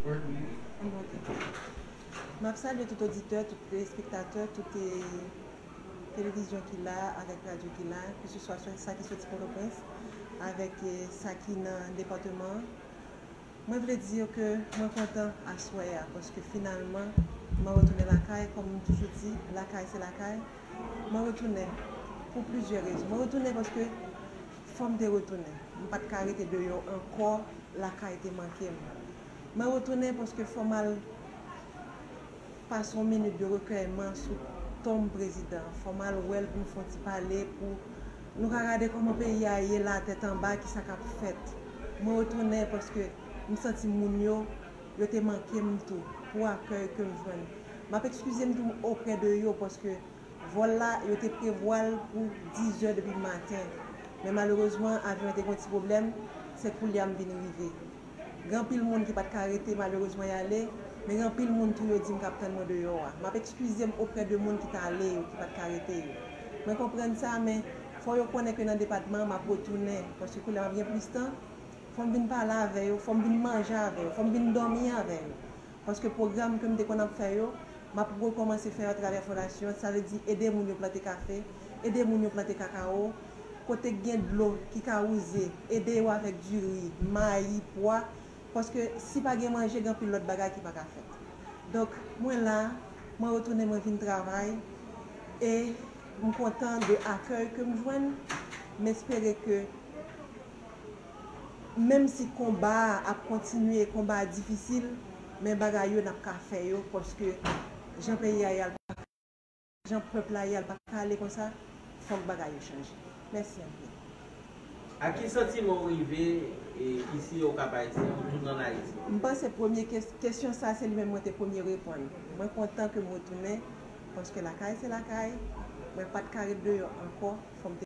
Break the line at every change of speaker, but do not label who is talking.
Yon bon ti tan. Map salye tout oditè, tout telespektatè, tout televizyon ki la, avèk radyo ki la, ke se swa sa ki soti Pòtoprens, avèk sa ki nan depateman an. Mwen vle di yo ke mwen kontan aswè a, paske finalman mwen retounen lakay, kòm m toujou di, lakay se lakay. Mwen retounen pou plizyè rezon. Mwen retounen paske. Fòm te retounen. M pat ka rete deyò ankò lakay te manke m. Mwen retounen paske fò m al pase yon minit de rekèyman sou tonm prezidan an. Fò m al wè l pou nou fè yon ti pale pou nou ka gade kòman peyi a ye la tèt anba ki sa k ap fèt. Mwen retounen paske m santi moun yo yo te manke m tou pou akèy ke m jwenn. M ap ekskize m tou oprè de yo paske. Vòl la, yo te prevwa l pou 10 zè depi maten, men malerezman avyon an te gen yon ti pwoblèm, se koulye a m vin rive. Gen anpil moun ki pa t ka rete malerezman y ale, men gen anpil moun tou yo di m k ap tann mwen deyò a. M ap ekskize m oprè de moun ki t ale yo, ki pa t ka rete yo. Mwen konprann sa, men fò yo konnen ke nan depatman an m ap retounen, paske koulye a m ap gen plis tan, fò m vin pale avè yo, fò m vin manje avè yo, fò m vin dòmi avè yo. paske pwogram ke m te konn ap fè yo, m ap rekòmanse fè yo atravè fondasyon an, sa vle di ede moun yo plante kafe, ede moun yo plante kakawo, kote k gen dlo ki ka wouze, ede yo avèk diri, mayi, pwa, paske si pa gen manje gen anpil lòt bagay ki pa ka fèt. Donk mwen la, mwen retounen mwen vin travay e m kontan de akèy ke m jwenn, m espere ke. Menm si konba a ap kontinye konba a difisil men bagay yo nap ka fè yo paske jan peyi a ye a l paka ale konsa jan pèp la ye a l paka ale konsa fòk bagay yo chanje mèsi anpil. A ki
santiman ou rive isi Okap Ayisyen ou tounen an Ayiti? M panse premye
kesyon sa se li menm mwen te premye reponn. Mwen kontan ke m retounen paske lakay se lakay, mwen pat ka ret deyò ankò fò m te.